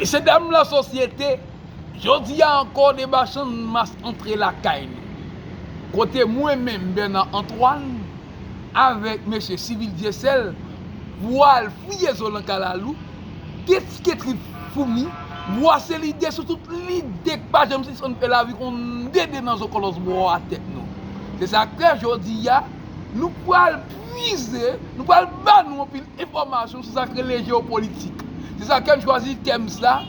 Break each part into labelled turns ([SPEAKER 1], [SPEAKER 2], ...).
[SPEAKER 1] Mesye dam la sosyete, jodi a ankò deba channmas antre lakay nou. Kote mwen menm Bernard Antoine avèk mesye Civil Dieuseul pwal fouye zo lan kalalou, detike trip foumi, bwase lide sou tout lide k pa janm sispann fè lavi konn dede nan zo kòlòs bò a tèt nou. Se sa k fè jodi a nou pwal pwize, nou pwal ba nou anpil Enfòmasyon sou sa k rele jewopolitik. Se sa kè m chwazi tèm sa,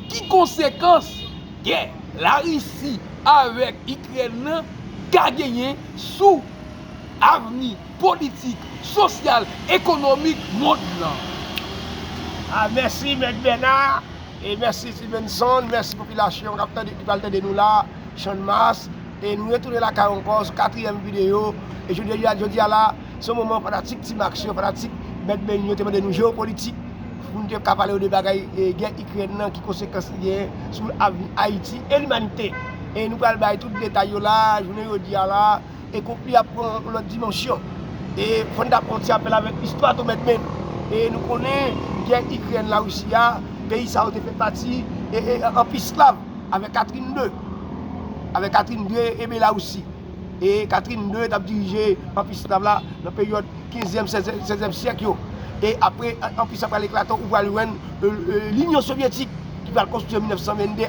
[SPEAKER 1] Ki konsekans gè Larisi avèk Ikrèn nan ka genyen sou avni politik, sosyal, ekonomik mond lan?
[SPEAKER 2] A mèsi mèt Bernard e mèsi Stevenson, mèsi popilasyon kap tande ki pral tande nou la Channmas e nou retounen lakay ankò sou katriyèm videyo e jodi a la. Se yon moman fanatik Team Aksyon, fanatik Mèt Beny yo te mande nou jewopolitik pou nou te ka pale yo de bagay gè Ikrèn nan, ki konsekans li genyen sou avni Ayiti e limanite. E nou pral bay tout detay yo la a, jounen jodi a la a, e konfli a pran yon lòt dimansyon. E fò n ta fè yon ti apèl avèk istwa tou Mèt Beny. E nou konnen gè Ikrèn Larisi a, peyi sa yo te fè pati e anpi esklav avèk Katrin 2, avèk Katrin 2 e Belarusi. e Catherine ii t ap dirije anpi sklav la nan peryòd kenzyèm, sèzyèm syèk yo. E apre anpi sa pral eklate ou pral jwenn linyon sovyetik ki pral konstwi an 1922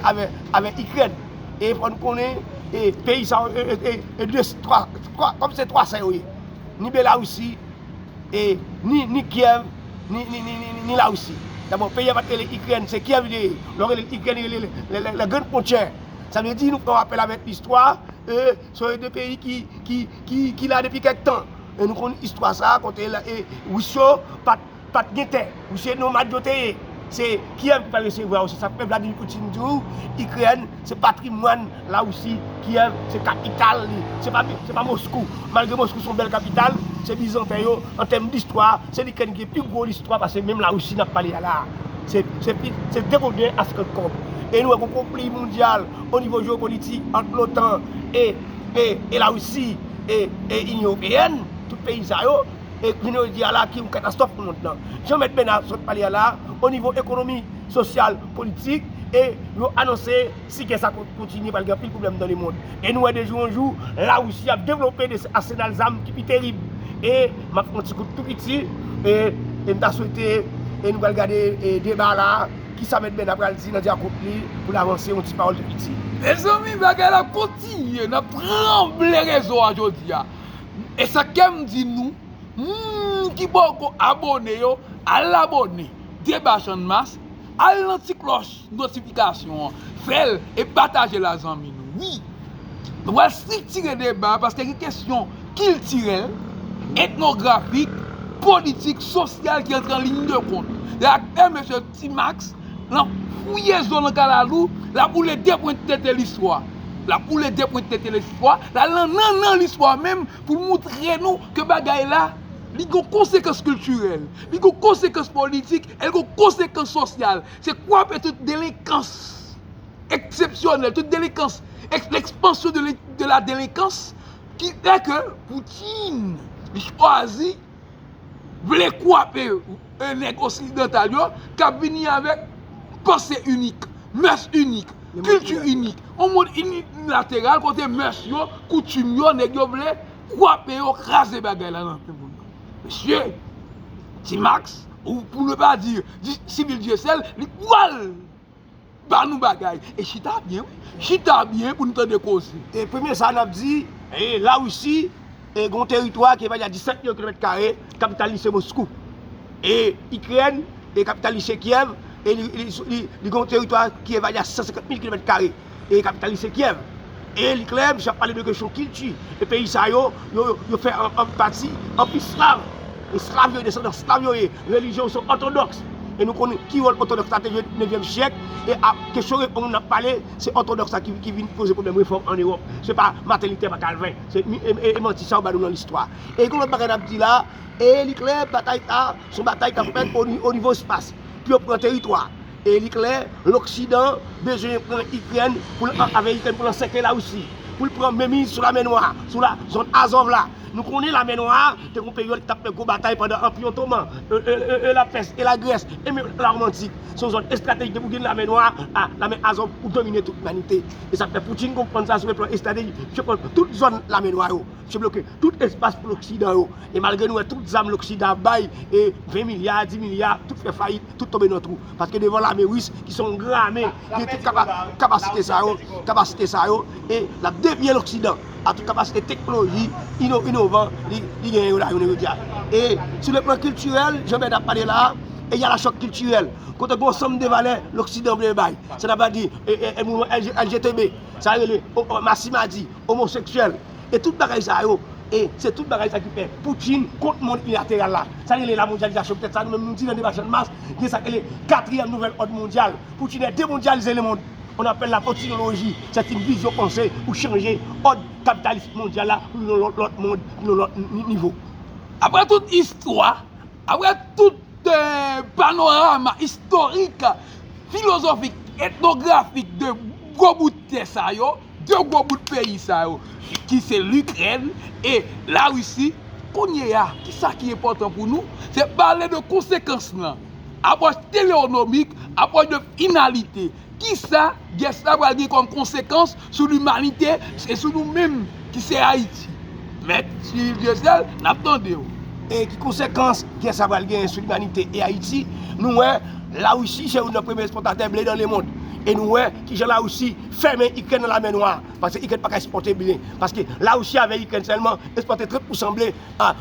[SPEAKER 2] avè Ikrèn. E fò nou konnen e peyi sa yo e de twa kòm se twa sa yo ye ni Belarisi e ni Kyèv ni Larisi. Dabò peyi a pa t rele Ikrèn se Kyèv li te ye. Lè w rele l Ikrèn li rele l la grande pontière. Sa vle di nou fè yon apèl avèk istwa e se yon de peyi ki la depi kèk tan. E nou konn istwa sa a kote Wis yo pa t gen tè. Wis se nomad yo te ye. Se Kyèv ki pa resevwa yo. Se sa k fè Vladimir Poutine di ou Ikrèn se patrimwàn Larisi. Kyèv se kapital li. Se pa Moskou. Malgre Moskou se yon bèl kapital, se bizanten yo an tèm distwa. Se likrèn ki gen pi gwo listwa pase menm la Russie nap pale a la. Se degouden a 50 kob. E nou wè gon konpli mondyal o nivo jeopolitik ant lotan e la Russie e inyon ewopeèn, tout peyi sa yo, e jounen jodi a la ki yon katastwòf pou mond lan. Jan mèt Bèna sot pale a la, o nivo ekonomi, sosyal, politik e yo anonse. Si gè sa kontinye, pral gen anpil pwoblèm nan lemond. E nou wè de jou an jou, Larisi ap devlope de asenal zam ki pi terib. E m ap fè yon ti kout tou piti, e m ta swete e nou pral gade deba la a, kisa Mèt Bèna pral di nan dyakout li pou l avanse yon ti pawòl tou piti. Mezanmi bagay
[SPEAKER 1] la kontinye, n ap tranble rezo a jodi a. E sa k kè m di nou, moun ki poko abone yo, al abone, Deba Channmas, al nan ti klòch. notifikasyon an fèl e patajel a zanmi nou wi nou pral striktire deba paske gen kesyon kiltirèl etnografik politik sosyal ki antre an liy de kont yak fè mesye ti max nan fouye zo nan kalalou lap woule de pwent tete listwa lap woule de pwent tete listwa lal nan nannan listwa menm poul moutre nou ke bagay la li gon konsekans kiltirèl li gon konsekans politik el gon konsekans sosyal Se kwape tout delenkans eksepsyonèl, tout delenkans, lekspansyon de la delenkans ki fè ke Poutin li chwazi vle kwape nèg oksidantal yo k ap vini avèk panse inik, mès inik, kilti inik, yon mond inilateral kote mès yo, koutim yo, nèg yo vle kwape yo, kraze bagay la nan men moun. Mesye, T-Max, ou pou ne pa di Disip Dyesèl, li pwal ba nou bagay. E chita byen wi, chita byen pou nou tande koze. E premye sa nap
[SPEAKER 2] di, la Risi gen yon teritwa ki evalye a 17 milyon kilomèt kare, kapital li se Moskou. E Ikrèn, kapital li se Kyèv, e li gen yon teritwa ki evalye a 150 mil kilomèt kare. e kapitalis se Kyèv. E li klè, misye ap pale de kesyon kilti. E peyi sa yo, yo fè an pati anpi slav. E slav yo ye, desandan slav yo ye. Relijyon yo se òtodòks. E nou konnen ki wòl òtodòks la te jwe nevyèm syèk. E a kesyon refòm n ap pale, se òtodòks la ki vin poze pwoblèm refòm ann Ewòp. Se pa Maten Litè, pa Kalven. Se manti sa yo ba nou nan listwa. E gen lòt bagay n ap di la, e li klè batay sa a, se yon batay k ap fèt onivo espas, pou yo pran teritwa. E li klè, loksidan bezwen pran Ikrèn pou l an avè Ikrèn pou l ansèkle Larisi, pou l pran menmiz sou Lamè Nwa, sou la zòn Azov la. Nou konnen Lamè Nwa a te gon peryòd ki t ap fè gwo batay pandan Anpi Otoman, e Lapès, e Lagrès, e menm Lawomantik. Se yon zòn estratejik depi w gen Lamè Nwa a, Lamè Azov, ou domine tout limanite. E sa k fè Poutin konprann sa sou yon plan estratejik, li fè pran tout zòn Lamè Nwa yo. Se bloke tout espas pou loksidan yo. E malgre nou wè tout zam loksidan ap bay, e 20 milya, 10 milya, tout fè fayit, tout tonbe nan twou. Paske devan lame ris ki se yon gran lame, ki gen tout kapasite sa yo, kapasite sa yo, e l ap depiye loksidan a tout kapasite teknoloji inovan li genyen yo la jounen jodi a. E sou le plan kiltirèl, jan Bède ap pale la a, e y a la chòk kiltirèl. Kote gen yon sanm de valè loksidan vle bay. Sa n ap di LGTB, sa rele masimadi, omoseksyèl. E tout bagay sa yo, e se tout bagay sa ki fè Poutine kont mond ilateral la. Sa yo rele lamondyalizasyon poutèt sa nou menm nou di nan deba Channmas gen sa ki rele katriyèm nouvèl òd mondyal. Poutine vle demondyalize lemond. On apèl la poutinoloji, sèt yn vizyon panse pou chanje òd kapitalis mondyal la pou yon lòt lòt mond, pou yon lòt nivo. Aprè tout
[SPEAKER 1] istwa, aprè tout panorama istorik, filozofik, etnografik de gwo bout tè sa yo, 2 gwo bout peyi sa yo ki se Likrèn e la Risi, kounye a ki sa ki enpòtan pou nou, se pale de konsekans lan, apwòch teleonomik, apwòch de finalite, ki sa gè sa pral gen kòm konsekans sou limanite e sou nou menm ki se Ayiti. Mèt Cyril Dieuseul, n ap tande w. E ki
[SPEAKER 2] konsekans gè sa pral genyen sou limanite e Ayiti, nou wè la Risi se youn nan premye ekspòtatè ble nan lemond e nou wè. Kijan la Russie fèmen ikrèn nan lamè nwa paske ikrèn paka espòte ble paske la Russie avè ikrèn sèlman espòte 30 pousan ble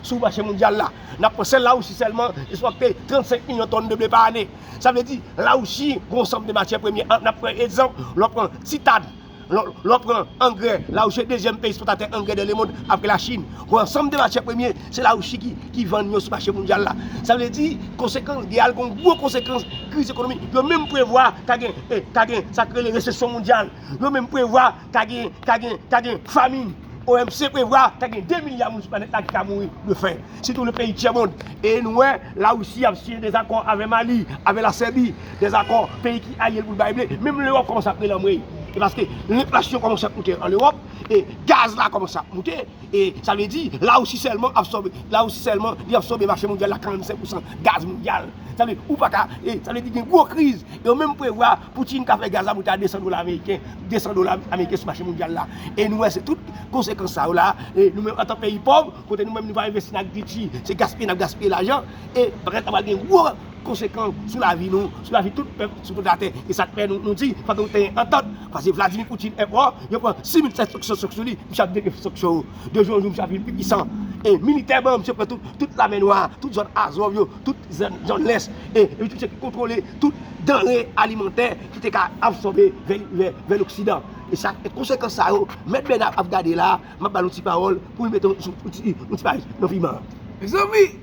[SPEAKER 2] sou mache mondyal la nap pran sèl la Russie sèlman espòte 35 milyon tòn de ble pa ane sa vle di la Russie gon sanm de matyè premye nap pran egzanp lè w pran titàn lè w pran angrè la Russie dezyèm peyi espòtatè angrè dan lemond aprè la chine gon ansanm de matyè premye Se la Russie ki ki vann yo sou mache mondyal la. Sa vle di konsekans gè a l gon gwo konsekans kriz ekonomi. Yo menm prevwa ka gen e ka gen sa k rele resesyon mondyal. Yo menm prevwa ka gen ka gen ka gen famin. OMC prevwa ka gen 2 milya moun sou planèt la ki ka mouri de fen. Sitou le peyi tyèmond. E nou wè la Russie ap siyen dezakò avè Mali, avè la Sèbi, dezakò peyi ki alye l pou l bay ble. Menm Lewòp kòmanse ap rele anmwey. E paske enflasyon kòmanse ap moute an Lewòp e gaz la kòmanse ap moute. E sa vle di, La Rousi sèlman absòbe, La Rousi sèlman li absòbe mache mondyal la 45 pousan gaz mondyal. Sa vle di, ou pa ka, e sa vle di gen gwo kriz. E yo menm prevwa Poutine ka fè gaz la moute a 200 dola ameriken, 200 dola ameriken sou mache mondyal la. E nou wè se tout konsekans sa yo la. E nou menm antan peyi pòv, kote nou menm nou pa envesti nan agrikilti, se gaspiye n ap gaspiye lajan. E bagay sa pral gen gwo. konsekan sou lavi nou, sou lavi tout pèp sou tout latè. Se sa k fè nou di fòk nou genyen antant. Pase Vladimir Poutine enpò, yo pran 6700 sanksyon sou li, misye ap devye sanksyon yo. De jou an jou misye ap vin pi pisan. E militèman misye pran tout Lamè Nwa, tout zòn Azov yo, tout zòn lès. E li se misye ki kontwole tout danre alimantè ki te ka absòbe vè loksidan. E sa k fè konsekans sa yo mèt Bernard ap gade la a. M ap ba l yon ti pawòl pou l mete yon ti paj nan fiman an. Mezanmi!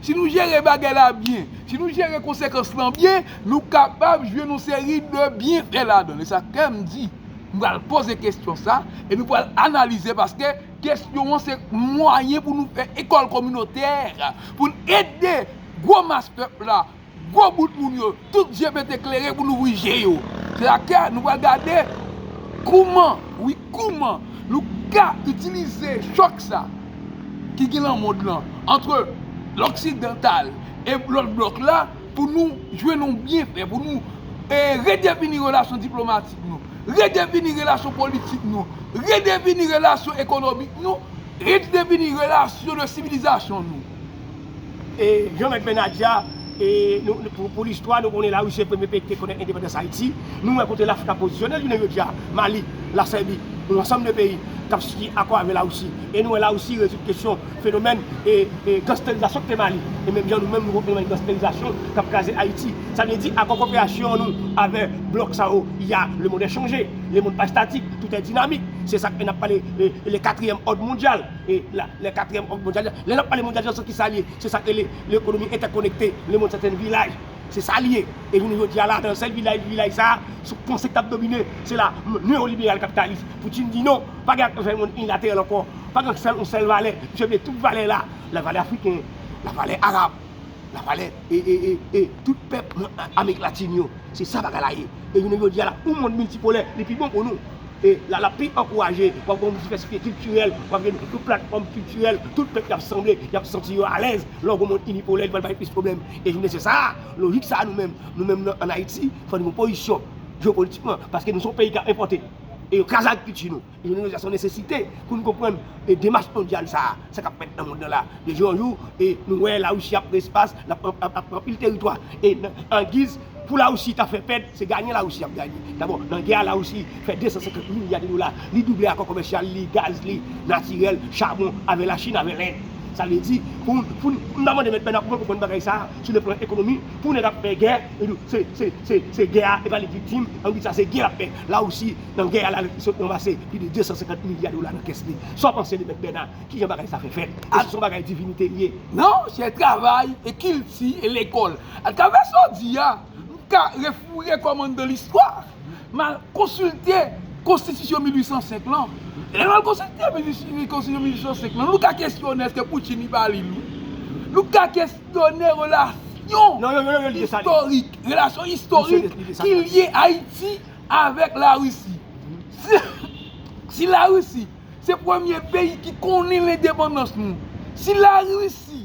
[SPEAKER 1] Si nou jere bagay la byen, si nou jere konsekans lan byen, nou kapab jwenn yon seri de byenfè ladan l. E sa kè m di, m pral poze kesyon sa, e nou pral analize paske kesyon an se mwayen pou nou fè ekòl kominotè, pou n ede gwo mas pèp la. Gwo bout moun yo, tout je mete klere pou louvri je yo. Se la ke nou pral gade kouman, wi kouman nou ka itilize chòk sa ki gen lan mond lan antre loksidantal e lòt blòk la pou nou jwenn yon byenfè, pou nou redefini relasyon diplomatik nou, redefini relasyon politik nou, redefini relasyon ekonomik nou, redefini relasyon de sivilizasyon nou.
[SPEAKER 2] Jean Mèt Bènadya pou listwa nou konnen Larisi se premye peyi ki te konnen endepandans Ayiti. Nou wè kote Lafrik ap pozisyone l jounen jodi a, Mali, Lasèbi, yon ansanm de peyi k ap siyen akò avè Larisi. E nou wè Larisi rezoud kesyon fenomèn gansterizasyon ki te Mali. E menm jan nou menm nou wè fenomèn gansterizasyon k ap kraze Ayiti. Sa vle di akò koperasyon nou avè blòk sa yo y a lemonn è chanje, lemonn pa estatik, toutè dinamik. Se sa k fè n ap pale de katriyèm òd mondyal. e la lè katriyèm òg mondyal lè nap pale mondyal sou kisa liye se sak rele lekonomi entèkonekte le mond seten vilaj se sa liye e jounen jodia la nan sèl vilaj vilaj sa sou panse kap domine se la neo liberal kapitalis poutine di non pa gen ak vèmonn inilateral ankò pa gen sèl yon sèl valè misye vle tout valè la la valè afriken la valè arab la valè e e e e tout pèp nan amerik latin yo se sa bagay la ye e jounen jodia la yon mond miltipolè li pi bon pou nou. E la l ap pi ankouraje, w ap gen yon divèsite kiltirèl, w ap gen yon platfòm kiltirèl, tout pèp yo ap sanble, y ap santi yo alèz. Lè w gen yon monn inipolè, li pral bay plis pwoblèm. E jounen se sa a, lojik sa a nou menm, nou menm nan ann Ayiti, fò nou gen yon pozisyon jewopolitikman, paske nou se yon peyi k ap enpòte, e yo kraze agrikilti nou. E jounen jodi a se yon nesesite pou nou konprann demach mondyal sa a, sa k ap fèt nan monn nan la. De jou an jou, e nou wè Larisi ap pran espas, l ap pran anpil teritwa, e nan angiz Pou la Russie ta fè pèd, se gayen la Russie ap gayen. Dabò, nan gè a la Russie fè 250 milya de dola. Li double akò komèsyal li, gaz li, natirèl, chabon, avè la Chine, avè Lend. Sa vle di, pou founi, m ta mande mèt Bèna pou mwen konprann bagay sa a, sou le plan ekonomi, pou nèg ap fè gè, li di w, se, se, se, se gè a, e pa li k viktim, an di sa se gè l ap fè. La Russie, nan gè a la, li sot ranmase plis de 250 milya dola nan kès li. Sa w panse de mèt Bèna? Ki jan bagay sa fè fèt? Èske son bagay divinite li ye? Non, se
[SPEAKER 1] travay, e kilti, e lekòl. Atravè sa w di a, m ka refoure kò m anndan listwa, m al konsilte konstitisyon 1805 lan. Lè m al konsilte konstitisyon 1805 lan, nou ka kesyone èske Poutin li pa li l wi. Nou ka kesyone relasyon istorik, relasyon istorik ki lye Ayiti avèk Larisi. Si Larisi se premye peyi ki konnen lendepandans nou, si Larisi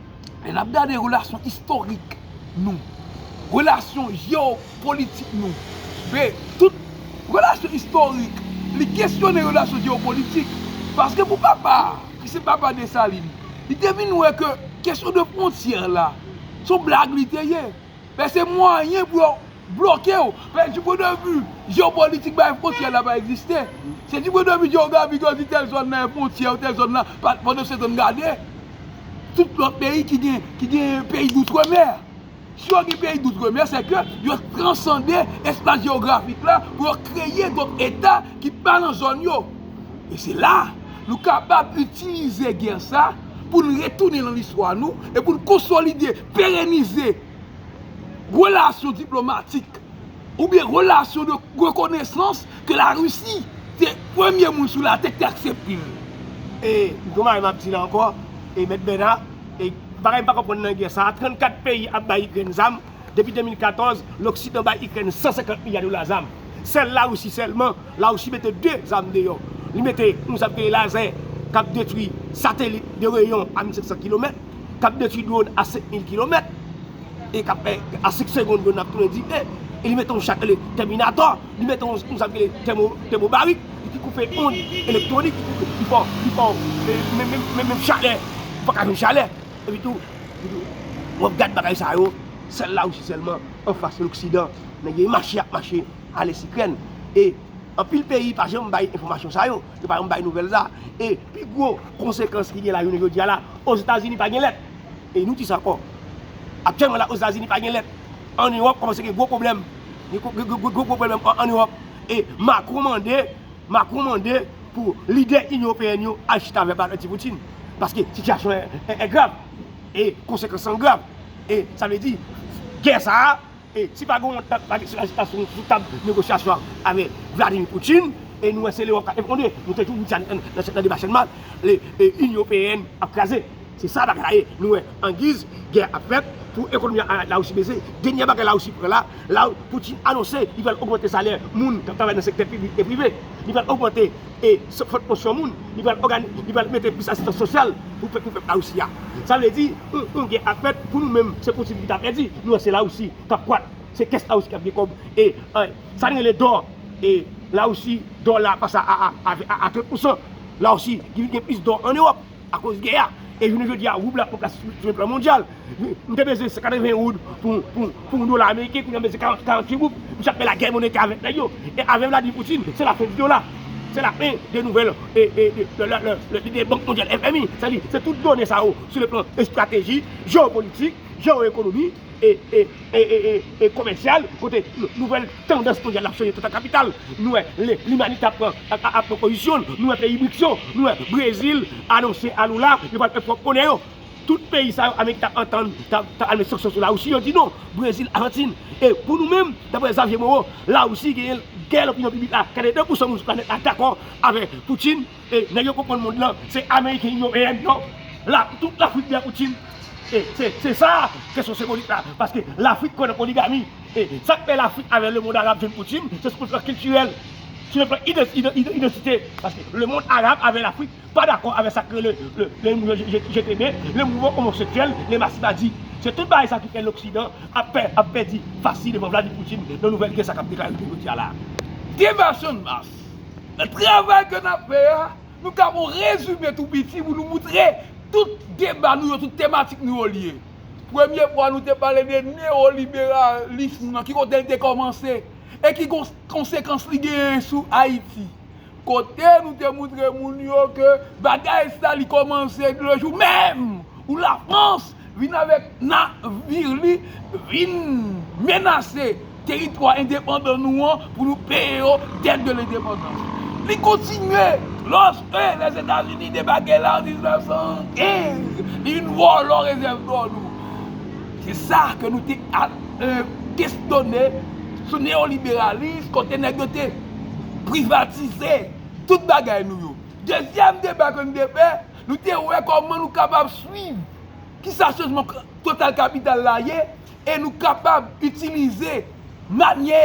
[SPEAKER 1] Lè n ap gade relasyon istorik nou, relasyon jewopolitik nou, e tout relasyon istorik, li kesyone relasyon jewopolitik. Paske pou papa a, ki se papa Desalin, li te vin wè ke kesyon de fwontyè la, s on blag li te ye. Fè se mwayen pou yo bloke w. Fè di pwen de vi jeopolitik bay fwontyè la pa egziste. Se di pwen de vi jeografik yo di tèl zòn nan gen fwontyè ou tèl zòn nan pa fò nou setan gade tout lòt peyi ki gen ki gen peyi doutremè. Si yo gen peyi doutremè se ke yo transande espas jeografik la pou yo kreye dòt eta ki pa nan zòn yo. E se la nou kapab itilize gè sa pou n retounen nan listwa nou e pou n konsolide. perenize relasyon diplomatik oubyen relasyon de rekonesans ke la Risi te premye moun sou latè ki te aksepte l. E
[SPEAKER 2] yon bagay m ap di la ankò, e Mèt Bèna, e bagay m pa konprann nan gè sa a, 34 peyi ap bay Ikrèn zam, depi 2014, loksidan bay Ikrèn 150 milya dola zam. Sèl la Risi sèlman La Russie mete 2 zam deyò. Li mete yon zam ki rele Laser kap detwi satelit de reyon a 1500 kilomèt, kap detwi dwon a 5000 kilomèt, e kap fè a 5 segond dwon nan ap tounen dife. E li mete yon cha ki rele Terminator, li mete yon zam ki rele Thermobaric ki koupe ond elektwonik, ki koupe, ki fè w, ki fè w, menm, menm chalè, ou paka jwenn chalè. Epi tou, epi tou, wap gad bagay sa yo, sèl La Russie sèlman anfas loksidan. Nèg yo mache, yap mache. ale sikrèn e anpil peyi pa janm bay enfòmasyon sa yo, yo pa janm bay nouvèl sa e pi gwo konsekans ki gen la jounen jodi a la ozetazini pa gen lèt e nou dis ankò aktyèlman la ozetazini pa gen lèt an ewòp kòmanse gen gwo pwoblèm gen gwo pwoblèm an ewòp e makron mande makron mande pou lidè inyon ewopeyèn yo al chita avè anti poutine paske sitiyasyon an grav e konsekans an grav e sa vle di gè sa a. E si pa gen yon dat lage sou ajitasyon sou tab negosyasyon avè Vladimir Poutine, e nou wè se Lewòp kap efondre, nou te toujou di sa nan deba Channmas, le Inyon Ewopeèn ap kraze. Se sa bagay la ye. Nou wè angiz gè ap fèt pou ekonomi Larisi bese, denyè bagay Larisi pran la, la Poutine anonse li pral ogmante salè moun kap travay nan sektè piblik e prive, li pral ogmante e san fòt konsyon moun, li pral ògani, li pral mete plis asistans sosyal pou pèp pou pèp Larisi a. Sa vle di, yon, yon gè ap fèt pou nou menm, se Poutine ki ta pèdi, nou an se Larisi k ap kwak, se kès Larisi k ap gen kòb e an, sa n rele dò e Larisi, dò la pase a, a, a 30 pousan, Larisi ki vin gen plis dò an Ewòp. Akoz gè a, e jounen jodi a woub la poko ka sou yon plan mondyal. M te bezwen 180 woub pou yon dola ameriken, kounye a m bezwen 48 woub. Misye ap fè lagè monetè avèk nèg yo. E avè Vladimir Poutine, se lafen di dola. Se lafen de nouvèl lidè Bank Mondyal, FMI. Sa vle di, se tout done sa yo sou le plan estrateji, jewopolitik, jewoekonomi. e komèsyal kote nouvèl tandans mondyal ap chanje toutan kapital. Nou wè limanite ap pran pozisyon l, nou wè peyi Brics yo, nou wè Brezil anonse a Lula yo pral fè pwòp monè yo. Tout peyi sa yo Amerik ta antann, ta al met sanksyon sou Lawousi, yo di non, Brezil, Ajantin. E pou nou menm, daprè Xavier Moreau, Lawousi genyen gè lopinyon piblik la, 82 pousan moun sou planèt la dakò avè Poutine. E nèg yo konprann mond lan se ameriken inyon eyen non la pou tout lafrik byen koutim e se se sa kesyon senbolik la paske lafrik kwè nan poligami e sak fè lafrik avè lemond arab jwenn koutim se sou plan kiltirèl sou plan ide idantite paske lemond arab avè lafrik pa dakò avè sak rele le le mou je jete men le mouvman omoseksyèl le masivadi se tout bagay sa ki fè loksidan ap pè ap pèdi fasi devan vladimir poutine nan nouvèl gè sa kap deklare jounen jodia la diversion
[SPEAKER 1] mas Nan travay ke n ap fè a, nou ka fè yon rezime tou piti pou nou moutre tout deba nou yo, tout tematik nou yo lye. Premye fwa nou te pale de newoliberalism nan, ki kote li te kòmanse e ki konsekans li genyen sou Ayiti. Kote nou te moutre moun yo ke bagay sa li kòmanse de jou menm pou Lafrans vin avèk na vir li vin menase teritwa endepandan nou an pou nou peye yo dèt de lendepandans. Li kontinye, Lòske Lèzetazini debake la an 1915, li vin vòlò rezèv dò nou. Se sa ke nou te kesyone sou neyoliberalis kote nèg yo te privatize tout bagay nou yo. Dezyèm deba ke nou te fè, Nou te wè kòman nou kapab swiv ki sa chanjman total kapital la ye e nou kapab itilize manyè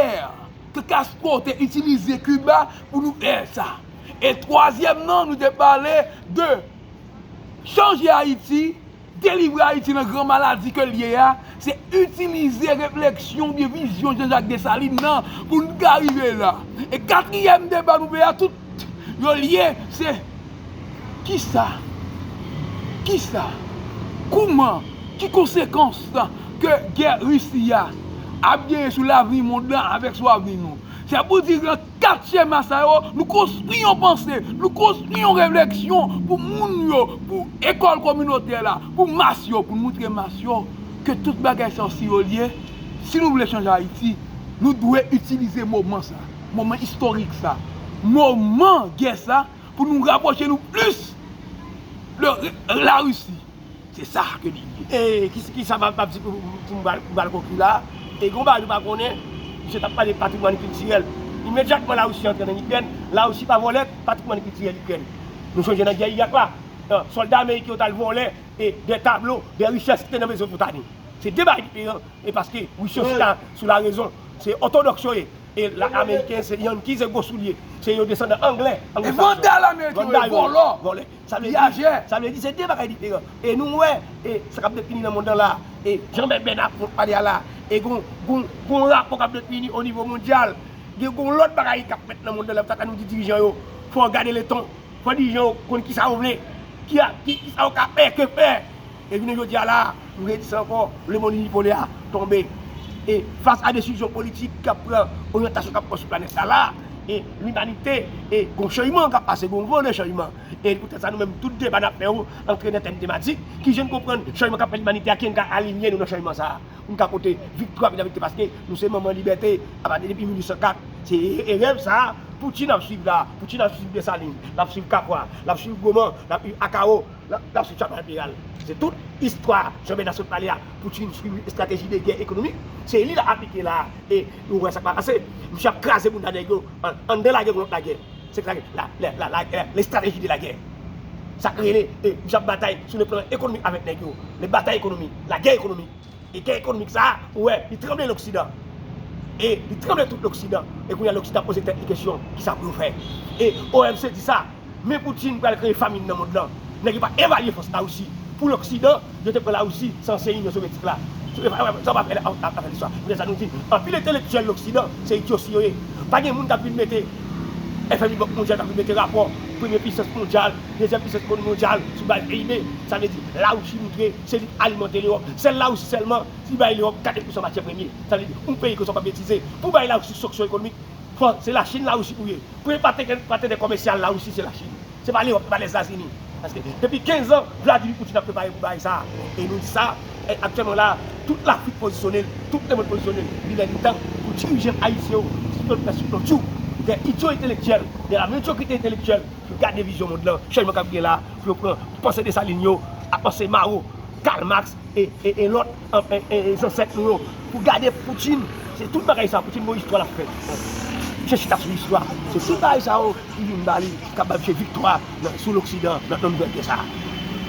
[SPEAKER 1] ke Castro te itilize Kiba pou nou fè sa. E twazyèm nan nou te pale de chanje Ayiti. Delivre Ayiti nan gran maladi ke l ye a, se itilize refleksyon oubyen vizyon Jean-Jacques Dessalines nan pou n ka rive la. E katriyèm deba nou fè a tout yo lye, se kisa, kisa, kouman, ki konsekans ke gè Russie a ap genyen sou lavni mond lan avèk sou avni nou. Sa pou di lan. Kat chema sa yo, nou konstwi yon panse, nou konstwi yon refleksyon pou moun yo, pou ekòl kominotè la, pou mas yo, pou nou moutre mas yo ke tout bagay sa yo si yo lye, si nou vle chanje Ayiti, nou dwe itilize moman sa, moman istorik sa, moman gè sa pou nou rapwoche nou plis de Larisi. Se sa ke li ye. E kisa
[SPEAKER 2] map di pou m bal konkli la a, e gen yon bagay nou pa konnen, misye tap pale de patrimwàn kiltirèl. Imedyatman Larisi antre nan Ikrèn, Larisi pa vòlè patrimwàn kiltirèl Ikrèn. Nou sonje nan gè Irak la, sòlda ameriken yo t al vòlè dè tablo, dè richès ki te nan Mezopotami. Se 2 bagay diferan, e paske Ris yo chita sou larezon, se òtodòks yo ye, e ameriken se yanki, se gwo soulye, se yo desandan anglè, anglo-sakson. E vandal
[SPEAKER 1] ameriken yo ye, vòlò.
[SPEAKER 2] Sa vle di se de bagay diferan. E nou wè e sa k ap defini nan monn nan la a. E jan mèt Bèna ap fon pale a la a. E gon gon rapò k ap defini o nivo mondyal. Gen gon lòt bagay k ap fèt nan monn nan la. Sa k fè nou di dirijan yo fò yo gade le ton. Fò dirijan yo konn ki sa yo vle. Ki sa yo ka fè, ke fè. E jounen jodi a la a, nou redi sa ankò, lemonn inipolè a tonbe. E fas a desizyon politik k ap pran, oryantasyon k ap pran sou planèt la la a, e limanite, e gon chanjman k ap pase, gon van de chanjman. E poutèt sa nou menm tout deba n ap fè yo antre nan tèm tematik, ki jan n konprann chanjman k ap fè limanite a, ki jan n ka alinye nou nan chanjman sa a, pou n ka pote viktwa vizavi de paske nou se manman libète apati depi 1804. Se rèv sa a Poutine ap swiv la a. Poutine ap swiv Desalin, l ap swiv Kapwa, l ap swiv Goman, l ap swiv Akawo. Lap sou tchat enperyal. Se tout istwa Jean Bernard sot pale a Poutine swiv estrateji de gè ekonomik. Se li lap aplike la a e nou wè sa k pral pase. Misye ap kraze bounda nèg yo anndan lagè kou lòt lagè. Se sa lagè lestrateji de lagè. Sa k rele misye ap batay sou le plan ekonomik avèk nèg yo. Le batay ekonomik. Lagè ekonomik. E gè ekonomik sa a, ou wè, li tranble loksidan. E li tranble tout loksidan. E kounye a loksidan ap poze tèt li kesyon, kisa pou yo fè? E OMC di sa, men Poutine pral kreye famin nan mond lan. Nèg yo pa evalye fòs Larisi. Pou loksidan, yo te pran Larisi, san ansyen Inyon Sovyetik la. Sa ou pa fè afè listwa. Se poutèt sa nou di, anpil entelektyèl loksidan, se idyosi yo ye. Pa gen moun k ap vin mete FMI, Bank Mondyal, k ap vin mete rapò premye pisans mondyal, dezyèm pisans mondyal sou baz PIB. Sa vle di, Larisi moutre. Se li k alimante Lewòp. Se Larisi sèlman ki bay Lewòp 4 pousan matyè premye. Sa vle di, yon peyi ke w sot ap betize. Pou bay Larisi sanksyon ekonomik, fò se Lachin Larisi pou ye. Premye patenè komèsyal Larisi se Lachin. Se pa Lewòp, se pa Lèzetazini. Paske depi 15 an, Vladimir Poutine ap prepare pou bagay sa a. E nou di sa, aktyèlman la a, tout Lafrik pozisyone l, tout lemonn pozisyone l. Li lè li tan pou dirijan ayisyen yo, sitou pèsonn yo, dè idyo entelektyèl, dè la medyokrite entelektyèl, Gade vizyon mond lan, chanjman kap gen la pou yo pran panse Desalin yo ak panse Mao, Karl Marx e lòt zansèt nou yo. Pou gade Poutin, se tout bagay sa Poutin bon istwa lap fè. Misye chita sou istwa. Se tout bagay sa yo ki vin ba li, kap ba misye viktwa sou loksidan nan tan nouvèl gè sa.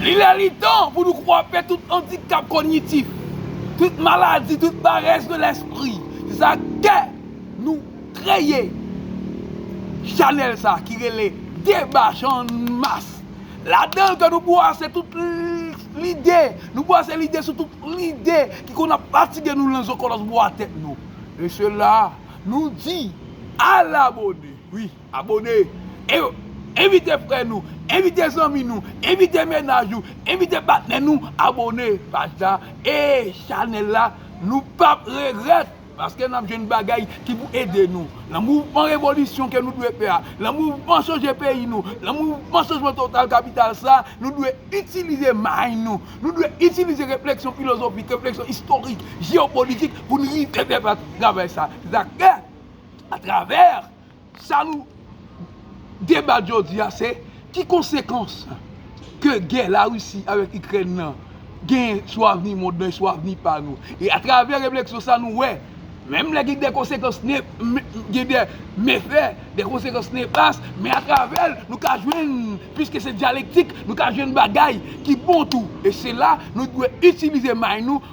[SPEAKER 2] Li lè li
[SPEAKER 1] tan pou nou kwape tout andikap konyitif, tout maladi, tout parèz de lèspri. Se sa kè nou. Kreye Chanel sa ki rele deba channmas ladanl ke nou bwase tout lide nou bwase lide sou tout lide ki konn ap fatige nou lan zokolos bwa tèt nou mesye la nou di al abone wi abone e envite frè nou envite zanmi nou envite menaj ou envite patnè nou abone paj la e chanel la nou pap regret. Paske nap jwenn bagay ki pou ede nou lan mouvman revolisyon ke nou dwe fè a, lan mouvman chanje peyi nou, lan mouvman chanjman total kapital sa, nou dwe itilize may nou, nou dwe itilize refleksyon filozofik, refleksyon istorik, jeopolitik pou n rive fè travay sa. Se sa k fè, atravè Sa nou debat jodi a se ki konsekans ke gè la Russie avèk Ikrèn nan genyen sou avni mond lan e sou avni pa nou. E atravè refleksyon sa nou wè, menm lè gen de konsekans ne, gen de mefè, de konsekans nefas, men atravè l nou ka jwenn, piske se dyalektik, nou ka jwenn bagay ki bon tou. E se la nou dwe itilize may nou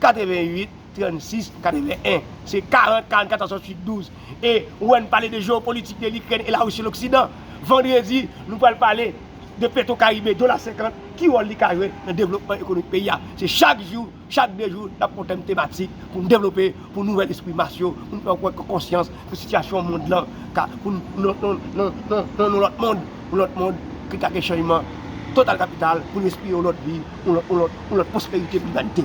[SPEAKER 2] 88 36 81 se 40 44 68 12 e ou wè n pale de jeopolitik de likrèn e la risi loksidan vandredi nou pral pale de petro karibe dola 50 ki wòl li ka jwe nan devlopman ekonomik peyi a se chak jou chak 2 jou nap pran tèm tematik pou n devlope pou n ouvè lespri mas yo pou n fè yo pran konsyans pou sitiyasyon mond lan ka pou n nan nan nan nan yon lòt mond. yon lòt mond ki ka gen chanjman total kapital pou n respire yon lòt vi, yon lòt pwosperite pou limanite.